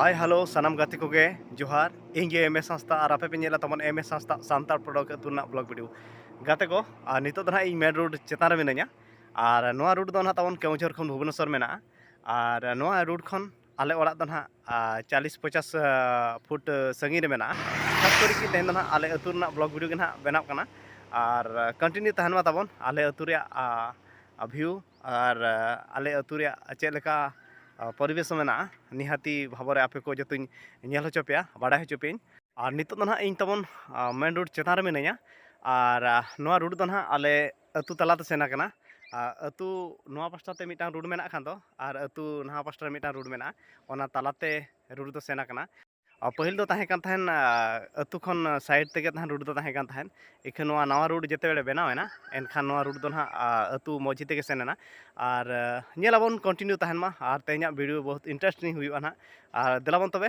ᱦᱟᱭ hello ᱥᱟᱱᱟᱢ ᱜᱟᱛᱮ ᱠᱚᱜᱮ ᱡᱚᱦᱟᱨ ᱤᱧ ᱜᱮ ᱮᱢ ᱮ ᱥᱟᱸᱥᱛᱟ ᱟᱨ ᱟᱯᱮ ᱯᱮ ᱧᱮᱞᱟ ᱛᱟᱵᱚᱱ ᱮᱢ ᱮ ᱥᱟᱸᱥᱛᱟ ᱥᱟᱱᱛᱟᱲ ᱯᱨᱚᱰᱚᱠᱴ ᱟᱹᱛᱩ ᱨᱮᱱᱟᱜ ᱵᱞᱚᱜ ᱵᱷᱤᱰᱤᱭᱳ ᱜᱟᱛᱮ ᱠᱚ ᱟᱨ ᱱᱤᱛᱚᱜ ᱫᱚ ᱱᱟᱦᱟᱜ ᱤᱧ ᱢᱮᱱ ᱨᱳᱰ ᱪᱮᱛᱟᱱ ᱨᱮ ᱢᱤᱱᱟᱹᱧᱟ ᱟᱨ ᱱᱚᱣᱟ ᱨᱩᱴ ᱫᱚ ᱱᱟᱦᱟᱜ ᱛᱟᱵᱚᱱ ᱠᱮᱣᱡᱷᱚᱨ ᱠᱷᱚᱱ ᱵᱷᱩᱵᱽᱱᱮᱥᱚᱨ ᱢᱮᱱᱟᱜᱼᱟ ᱟᱨ ᱱᱚᱣᱟ ᱨᱩᱴ ᱠᱷᱚᱱ ᱟᱞᱮ ᱚᱲᱟᱜ ᱫᱚ ᱱᱟᱦᱟᱜ ᱪᱟᱞᱤᱥ ᱯᱚᱪᱟᱥ ᱯᱷᱩᱴ ᱥᱟᱺᱜᱤᱧ ᱨᱮ ᱢᱮᱱᱟᱜᱼᱟ ᱠᱷᱟᱥ ᱠᱚᱨᱮ ᱜᱮ ᱛᱮᱦᱮᱧ ᱫᱚ ᱱᱟᱦᱟᱜ ᱟᱞᱮ ᱟᱹᱛᱩ ᱨᱮᱱᱟᱜ ᱵᱞᱚᱜᱽ ᱵᱷᱤᱰᱤᱭᱳ ᱜᱮ ᱱᱟᱦᱟᱜ ᱵᱮᱱᱟᱜ ᱠᱟᱱᱟ ᱟᱨ ᱠᱚᱱᱴᱤᱱᱤᱭᱩ ᱛᱟᱦᱮᱱ ᱢᱟ ᱛᱟᱵᱚᱱ ᱟᱞᱮ ᱟᱹᱛᱩ ᱨᱮᱭᱟᱜ ᱵᱷᱤᱭᱩ ᱟᱨ ᱟᱞᱮ ᱟᱹᱛᱩ ᱨᱮᱭᱟᱜ ᱪᱮᱫ ᱞᱮᱠᱟ ᱯᱚᱨᱤᱵᱮᱥ ᱢᱮᱱᱟᱜᱼᱟ ᱱᱤᱦᱟᱹᱛᱤ ᱵᱷᱟᱵᱚ ᱨᱮ ᱟᱯᱮ ᱠᱚ ᱡᱚᱛᱚᱧ ᱧᱮᱞ ᱦᱚᱪᱚ ᱯᱮᱭᱟ ᱵᱟᱰᱟᱭ ᱦᱚᱪᱚ ᱯᱮᱭᱟᱹᱧ ᱟᱨ ᱱᱤᱛᱚᱜ ᱫᱚ ᱱᱟᱦᱟᱜ ᱤᱧ ᱛᱟᱵᱚᱱ ᱢᱮᱱ ᱨᱳᱰ ᱪᱮᱛᱟᱱ ᱨᱮ ᱢᱤᱱᱟᱹᱧᱟ ᱟᱨ ᱱᱚᱣᱟ ᱨᱳᱰ ᱫᱚ ᱱᱟᱦᱟᱜ ᱟᱞᱮ ᱟᱹᱛᱩ ᱛᱟᱞᱟᱛᱮ ᱥᱮᱱ ᱟᱠᱟᱱᱟ ᱟᱹᱛᱩ ᱱᱚᱣᱟ ᱯᱟᱥᱴᱟ ᱛᱮ ᱢᱤᱫᱴᱟᱝ ᱨᱳᱰ ᱢᱮᱱᱟᱜ ᱠᱷᱟᱱ ᱫᱚ ᱟᱨ ᱟᱹᱛᱩ ᱱᱟᱦᱟ ᱯᱟᱥᱴᱟ ᱨᱮ ᱢᱤᱫᱴᱟᱝ ᱨᱳᱰ ᱢᱮᱱᱟᱜᱼᱟ ᱚᱱᱟ ᱛᱟᱞᱟᱛᱮ ᱨᱳᱰ ᱫᱚ ᱥᱮᱱ ᱟᱠᱟᱱᱟ ᱯᱟᱹᱦᱤᱞ ᱫᱚ ᱛᱟᱦᱮᱸ ᱠᱟᱱ ᱛᱟᱦᱮᱸᱫ ᱟᱹᱛᱩ ᱠᱷᱚᱱ ᱥᱟᱭᱤᱰ ᱛᱮᱜᱮ ᱛᱟᱦᱮᱸᱫ ᱨᱳᱰ ᱫᱚ ᱛᱟᱦᱮᱸ ᱠᱟᱱ ᱛᱟᱦᱮᱸᱫ ᱤᱠᱷᱟᱹᱱ ᱱᱚᱣᱟ ᱱᱟᱣᱟ ᱨᱳᱰ ᱡᱮᱛᱮ ᱵᱮᱲᱮ ᱵᱮᱱᱟᱣ ᱮᱱᱟ ᱮᱱᱠᱷᱟᱱ ᱱᱚᱣᱟ ᱨᱳᱰ ᱫᱚ ᱱᱟᱦᱟᱜ ᱟᱹᱛᱩ ᱢᱚᱡᱽᱡᱷᱮ ᱛᱮᱜᱮ ᱥᱮᱱ ᱮᱱᱟ ᱟᱨ ᱧᱮᱞ ᱟᱵᱚᱱ ᱠᱚᱱᱴᱤᱱᱤᱭᱩ ᱛᱟᱦᱮᱱ ᱢᱟ ᱟᱨ ᱛᱮᱦᱮᱧᱟᱜ ᱵᱷᱤᱰᱤᱭᱳ ᱵᱚᱦᱩᱛ ᱤᱱᱴᱟᱨᱮᱥᱴᱤᱝ ᱦᱩᱭᱩᱜᱼᱟ ᱱᱟᱦᱟᱜ ᱟᱨ ᱫᱮᱞᱟ ᱵᱚᱱ ᱛᱚᱵᱮ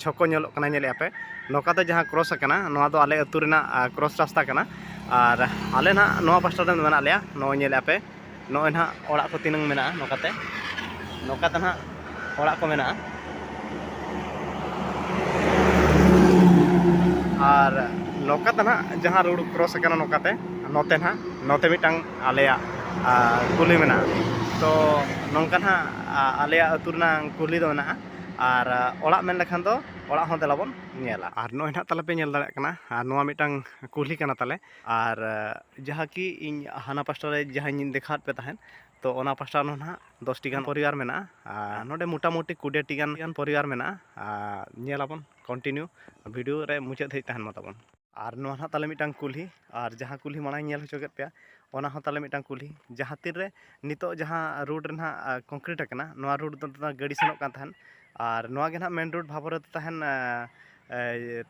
ᱪᱷᱚᱠᱚ ᱧᱮᱞᱚᱜ ᱠᱟᱱᱟ ᱧᱮᱞᱮᱫᱼᱟ ᱯᱮ ᱱᱚᱝᱠᱟ ᱛᱮ ᱡᱟᱦᱟᱸ ᱠᱨᱚᱥ ᱟᱠᱟᱱᱟ ᱱᱚᱣᱟ ᱫᱚ ᱟᱞᱮ ᱟᱹᱛᱩ ᱨᱮᱱᱟᱜ ᱠᱨᱚᱥ ᱨᱟᱥᱛᱟ ᱠᱟᱱᱟ ᱟᱨ ᱟᱞᱮ ᱱᱟᱜ ᱱᱚᱣᱟ ᱯᱟᱥᱴᱟ ᱨᱮ ᱢᱮᱱᱟᱜ ᱞᱮᱭᱟ ᱱᱚᱜᱼᱚᱭ ᱧᱮᱞᱮᱫᱼᱟ ᱯᱮ ᱱᱚᱜᱼᱚᱭ ᱱᱟᱜ ᱚᱲᱟᱜ ᱠᱚ ᱛᱤᱱᱟᱹᱝ ᱢᱮᱱᱟᱜᱼᱟ ᱱᱚᱝᱠᱟ ᱛᱮ ᱱᱚᱝᱠᱟ ᱛᱮ ᱱᱟᱜ ᱚᱲᱟᱜ ᱠᱚ ᱢᱮᱱᱟᱜᱼᱟ ᱟᱨ ᱱᱚᱝᱠᱟ ᱛᱮ ᱱᱟᱜ ᱡᱟᱦᱟᱸ ᱨᱳᱰ ᱠᱨᱚᱥ ᱟᱠᱟᱱᱟ ᱱᱚᱝᱠᱟ ᱛᱮ ᱱᱚᱛᱮ ᱱᱟᱜ ᱱᱚᱛᱮ ᱢᱤᱫᱴᱟᱝ ᱟᱞᱮᱭᱟᱜ ᱠᱩᱞᱦᱤ ᱢᱮᱱᱟᱜᱼᱟ ᱛᱚ ᱱᱚᱝᱠᱟ ᱱᱟᱜ ᱟᱞᱮᱭᱟᱜ ᱟᱹᱛᱩ ᱨᱮᱱᱟᱜ ᱠᱩᱞᱦᱤ ᱫᱚ ᱢᱮᱱᱟᱜᱼᱟ ᱟᱨ ᱚᱲᱟᱜ ᱢᱮᱱ ᱞᱮᱠᱷᱟᱱ ᱫᱚ ᱚᱲᱟᱜ ᱦᱚᱸ ᱫᱮᱞᱟ ᱵᱚᱱ ᱧᱮᱞᱟ ᱟᱨ ᱱᱚᱜᱼᱚᱭ ᱱᱟᱦᱟᱜ ᱛᱟᱞᱮ ᱯᱮ ᱧᱮᱞ ᱫᱟᱲᱮᱭᱟᱜ ᱠᱟᱱᱟ ᱟᱨ ᱱᱚᱣᱟ ᱢᱤᱫᱴᱟᱝ ᱠᱩᱞᱦᱤ ᱠᱟᱱᱟ ᱛᱟᱞᱮ ᱟᱨ ᱡᱟᱦᱟᱸ ᱠᱤ ᱤᱧ ᱦᱟᱱᱟ ᱯᱟᱥᱴᱟ ᱨᱮ ᱡᱟᱦᱟᱸᱧ ᱫᱮᱠᱷᱟᱣᱟᱫ ᱯᱮ ᱛᱟᱦᱮᱸᱫ ᱛᱚ ᱚᱱᱟ ᱯᱟᱥᱴᱟ ᱨᱮᱦᱚᱸ ᱱᱟᱦᱟᱜ ᱫᱚᱥᱴᱤ ᱜᱟᱱ ᱯᱚᱨᱤᱵᱟᱨ ᱢᱮᱱᱟᱜᱼᱟ ᱟᱨ ᱱᱚᱰᱮ ᱢᱚᱴᱟᱢᱩᱴᱤ ᱠᱩᱰᱤᱭᱟᱹᱴᱤ ᱜᱟᱱ ᱯᱚᱨᱤᱵᱟᱨ ᱢᱮᱱᱟᱜᱼᱟ ᱟᱨ ᱧᱮᱞᱟᱵᱚᱱ ᱠᱚᱱᱴᱤᱱᱤᱭᱩ ᱵᱷᱤᱰᱤᱭᱳ ᱨᱮ ᱢᱩᱪᱟᱹᱫ ᱫᱷᱟᱹᱵᱤᱡ ᱛᱟᱦᱮᱱ ᱢᱟ ᱛᱟᱵᱚᱱ ᱟᱨ ᱱᱚᱣᱟ ᱱᱟᱦᱟᱜ ᱛᱟᱞᱮ ᱢᱤᱫᱴᱟᱝ ᱠᱩᱞᱦᱤ ᱟᱨ ᱡᱟᱦᱟᱸ ᱠᱩᱞᱦᱤ ᱢᱟᱲᱟᱝ ᱤᱧ ᱧᱮᱞ ᱦᱚᱪᱚ ᱠᱮᱫ ᱯᱮᱭᱟ ᱚᱱᱟ ᱦᱚᱸ ᱛᱟᱞᱮ ᱢᱤᱫᱴᱟᱝ ᱠᱩᱞᱦᱤ ᱡᱟᱦᱟᱸ ᱛᱤᱱ ᱨᱮ ᱱᱤᱛᱚᱜ ᱡᱟᱦᱟᱸ ᱨᱳᱰ ᱨᱮ ᱱᱟᱦᱟᱜ ᱠᱚᱝᱠᱨᱤᱴ ᱟᱠᱟᱱᱟ ᱱᱚᱣᱟ ᱨᱳᱰ ᱫᱚ ᱜᱟᱹᱰᱤ ᱥᱮᱱᱚᱜ ᱠᱟᱱ ᱛᱟᱦᱮᱸᱫ ᱟᱨ ᱱᱚᱣᱟ ᱜᱮ ᱱᱟᱦᱟᱜ ᱢᱮᱱ ᱨᱳᱰ ᱵᱷᱟᱵᱚᱨᱚᱛ ᱛᱟᱦᱮᱱ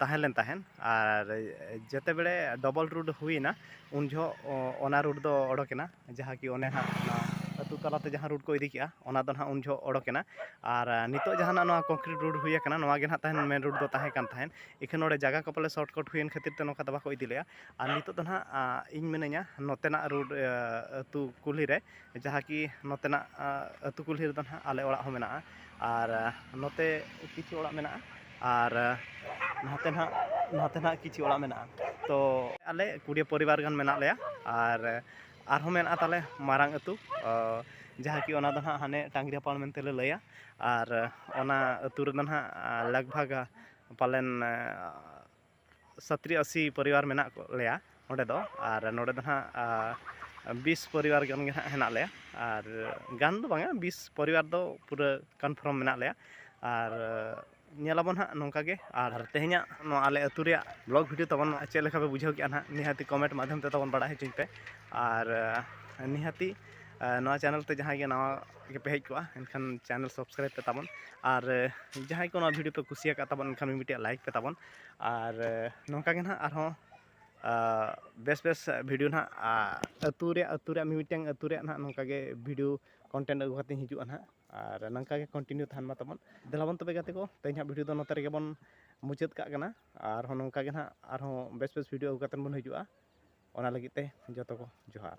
ᱛᱟᱦᱮᱸ ᱞᱮᱱ ᱛᱟᱦᱮᱸᱫ ᱟᱨ ᱡᱮᱛᱮ ᱵᱮᱲᱮ ᱰᱚᱵᱚᱞ ᱨᱳᱰ ᱦᱩᱭᱮᱱᱟ ᱩᱱ ᱡᱚᱦᱚᱜ ᱚᱱᱟ ᱨᱳᱰ ᱫᱚ ᱚᱰᱚᱠᱮᱱᱟ ᱡᱟᱦᱟᱸ ᱠᱤ ᱚᱱᱮ ᱦᱟᱸᱜ ᱚᱱᱟ ᱟᱹᱛᱩ ᱛᱟᱞᱟᱛᱮ ᱡᱟᱦᱟᱸ ᱨᱳᱰ ᱠᱚ ᱤᱫᱤ ᱠᱮᱜᱼᱟ ᱚᱱᱟ ᱫᱚ ᱦᱟᱸᱜ ᱩᱱ ᱡᱚᱦᱚᱜ ᱚᱰᱚᱠ ᱮᱱᱟ ᱟᱨ ᱱᱤᱛᱚᱜ ᱡᱟᱦᱟᱸ ᱱᱟᱜ ᱱᱚᱣᱟ ᱠᱚᱝᱠᱨᱤᱴ ᱨᱳᱰ ᱦᱩᱭ ᱠᱟᱱᱟ ᱱᱚᱣᱟ ᱜᱮ ᱦᱟᱸᱜ ᱛᱟᱦᱮᱱ ᱢᱮᱱ ᱨᱳᱰ ᱫᱚ ᱛᱟᱦᱮᱸ ᱠᱟᱱ ᱛᱟᱦᱮᱸᱫ ᱤᱠᱷᱟᱹᱱ ᱱᱚᱰᱮ ᱡᱟᱭᱜᱟ ᱠᱚ ᱯᱟᱞᱮᱱ ᱥᱚᱨᱴ ᱠᱟᱨᱴ ᱦᱩᱭᱮᱱ ᱠᱷᱟᱹᱛᱤᱨ ᱛᱮ ᱱᱚᱝᱠᱟ ᱫᱚ ᱵᱟᱠᱚ ᱤᱫᱤ ᱞᱮᱜᱼᱟ ᱟᱨ ᱱᱤᱛᱚᱜ ᱫᱚ ᱦᱟᱸᱜ ᱤᱧ ᱢᱤᱱᱟᱹᱧᱟ ᱱᱚᱛᱮᱱᱟᱜ ᱨᱳᱰ ᱟᱹᱛᱩ ᱠᱩᱞᱦᱤ ᱨᱮ ᱡᱟᱦᱟᱸ ᱠᱤ ᱱᱚᱛᱮᱱᱟᱜ ᱟᱹᱛᱩ ᱠᱩᱞᱦᱤ ᱨᱮᱫᱚ ᱦᱟᱸᱜ ᱟᱞᱮ ᱚᱲᱟᱜ ᱦᱚᱸ ᱢᱮᱱᱟᱜᱼᱟ ᱟᱨ ᱱᱚᱛᱮ ᱠᱤᱪᱷᱩ ᱚᱲᱟᱜ ᱢᱮᱱᱟᱜᱼᱟ ᱟᱨ ᱱᱟᱛᱮ ᱱᱟᱦᱟᱜ ᱱᱟᱛᱮ ᱱᱟᱦᱟᱜ ᱠᱤᱪᱷᱩ ᱚᱲᱟᱜ ᱢᱮᱱᱟᱜᱼᱟ ᱛᱚ ᱟᱞᱮ ᱠᱩᱲᱤ ᱯᱚᱨᱤᱵᱟᱨ ᱜᱟᱱ ᱢᱮᱱᱟᱜ ᱞᱮᱭᱟ ᱟᱨ ᱟᱨᱦᱚᱸ ᱢᱮᱱᱟᱜᱼᱟ ᱛᱟᱞᱮ ᱢᱟᱨᱟᱝ ᱟᱹᱛᱩ ᱡᱟᱦᱟᱸ ᱠᱤ ᱚᱱᱟ ᱫᱚ ᱱᱟᱦᱟᱜ ᱦᱟᱱᱮ ᱴᱟᱺᱜᱽᱨᱤ ᱦᱚᱯᱚᱱ ᱢᱮᱱᱛᱮ ᱞᱮ ᱞᱟᱹᱭᱟ ᱟᱨ ᱚᱱᱟ ᱟᱹᱛᱩ ᱨᱮᱫᱚ ᱱᱟᱦᱟᱜ ᱞᱟᱜᱽ ᱵᱷᱟᱜᱽ ᱯᱟᱞᱮᱱ ᱥᱟᱛᱨᱤ ᱟᱥᱤ ᱯᱚᱨᱤᱵᱟᱨ ᱢᱮᱱᱟᱜ ᱞᱮᱭᱟ ᱚᱸᱰᱮ ᱫᱚ ᱟᱨ ᱱᱚᱰᱮ ᱫᱚ ᱦᱟᱸᱜ ᱵᱤᱥ ᱯᱚᱨᱤᱵᱟᱨ ᱜᱟᱱ ᱜᱮ ᱦᱟᱸᱜ ᱦᱮᱱᱟᱜ ᱞᱮᱭᱟ ᱟᱨ ᱜᱟᱱ ᱫᱚ ᱵᱟᱝᱟ ᱵᱤᱥ ᱯᱚᱨᱤᱵᱟᱨ ᱫᱚ ᱯᱩᱨᱟᱹ ᱠᱚᱱᱯᱷᱨᱚᱢ ᱢᱮᱱᱟᱜ ᱞᱮᱭᱟ ᱟᱨ ᱧᱮᱞ ᱟᱵᱚᱱ ᱦᱟᱸᱜ ᱱᱚᱝᱠᱟ ᱜᱮ ᱟᱨ ᱛᱮᱦᱮᱧᱟᱜ ᱱᱚᱣᱟ ᱟᱞᱮ ᱟᱹᱛᱩ ᱨᱮᱭᱟᱜ ᱵᱞᱚᱜ ᱵᱷᱤᱰᱤᱭᱳ ᱛᱟᱵᱚᱱ ᱪᱮᱫ ᱞᱮᱠᱟ ᱯᱮ ᱵᱩᱡᱷᱟᱹᱣ ᱠᱮᱜᱼᱟ ᱦᱟᱸᱜ ᱱᱤᱦᱟᱹᱛ ᱠᱚᱢᱮᱱᱴ ᱢᱟᱫᱽᱫᱷᱚᱢ ᱛᱮ ᱛᱟᱵᱚᱱ ᱵᱟᱲᱟᱭ ᱦᱚᱪᱚᱧ ᱯᱮ ᱟᱨ ᱱᱤᱦᱟᱹᱛ ᱱᱚᱣᱟ ᱪᱮᱱᱮᱞ ᱛᱮ ᱡᱟᱦᱟᱸᱭ ᱜᱮ ᱱᱟᱣᱟ ᱛᱮᱜᱮ ᱯᱮ ᱦᱮᱡ ᱠᱚᱜᱼᱟ ᱮᱱᱠᱷᱟᱱ ᱪᱮᱱᱮᱞ ᱥᱟᱵᱥᱠᱨᱟᱭᱤᱵᱽ ᱯᱮ ᱛᱟᱵᱚᱱ ᱟᱨ ᱡᱟᱦᱟᱸᱭ ᱠᱚ ᱱᱚᱣᱟ ᱵᱷᱤᱰᱤᱭᱳ ᱯᱮ ᱠᱩᱥᱤᱭᱟᱠᱟᱫ ᱛᱟᱵᱚᱱ ᱮᱱᱠᱷᱟᱱ ᱢᱤᱫᱴᱮᱡ ᱞᱟᱭᱤᱠ ᱯᱮ ᱛᱟᱵᱚᱱ ᱟᱨ ᱱᱚᱝᱠᱟ ᱜᱮ ᱱᱟᱦᱟᱜ ᱟᱨᱦᱚᱸ ᱵᱮᱥ ᱵᱮᱥ ᱵᱷᱤᱰᱤᱭᱳ ᱱᱟᱦᱟᱜ ᱟᱹᱛᱩ ᱨᱮᱭᱟᱜ ᱟᱹᱛᱩ ᱨᱮᱭᱟᱜ ᱢᱤᱢᱤᱫᱴᱟᱝ ᱟᱹᱛᱩ ᱨᱮᱭᱟᱜ ᱱᱟᱦᱟᱜ ᱱᱚᱝᱠᱟ ᱜᱮ ᱵᱷᱤᱰᱤᱭᱳ ᱠᱚᱱᱴᱮᱱᱴ ᱟᱹᱜᱩ ᱠᱟᱛᱮᱧ ᱦᱤᱡᱩᱜᱼᱟ ᱱᱟᱦᱟᱜ ᱟᱨ ᱱᱚᱝᱠᱟ ᱜᱮ ᱠᱚᱱᱴᱤᱱᱤᱭᱩ ᱛᱟᱦᱮᱱ ᱢᱟ ᱛᱟᱵᱚᱱ ᱫᱮᱞᱟᱵᱚᱱ ᱛᱚᱵᱮ ᱜᱟᱛᱮ ᱠᱚ ᱛᱮᱦᱮᱧ ᱦᱟᱸᱜ ᱵᱷᱤᱰᱤᱭᱳ ᱫᱚ ᱱᱚᱛᱮ ᱨᱮᱜᱮ ᱵᱚᱱ ᱢᱩᱪᱟᱹᱫ ᱠᱟᱜ ᱠᱟᱱᱟ ᱟᱨᱦᱚᱸ ᱱᱚᱝᱠᱟ ᱜᱮ ᱱᱟᱦᱟᱜ ᱟᱨᱦᱚᱸ ᱵᱮᱥ ᱵᱮᱥ ᱵᱷᱤᱰᱤᱭᱳ ᱟᱹᱜᱩ ᱠᱟᱛᱮᱫ ᱵᱚᱱ ᱦᱤᱡᱩᱜᱼᱟ ᱚᱱᱟ ᱞᱟᱹᱜᱤᱫ ᱛᱮ ᱡᱚᱛᱚ ᱠᱚ ᱡᱚᱦᱟᱨ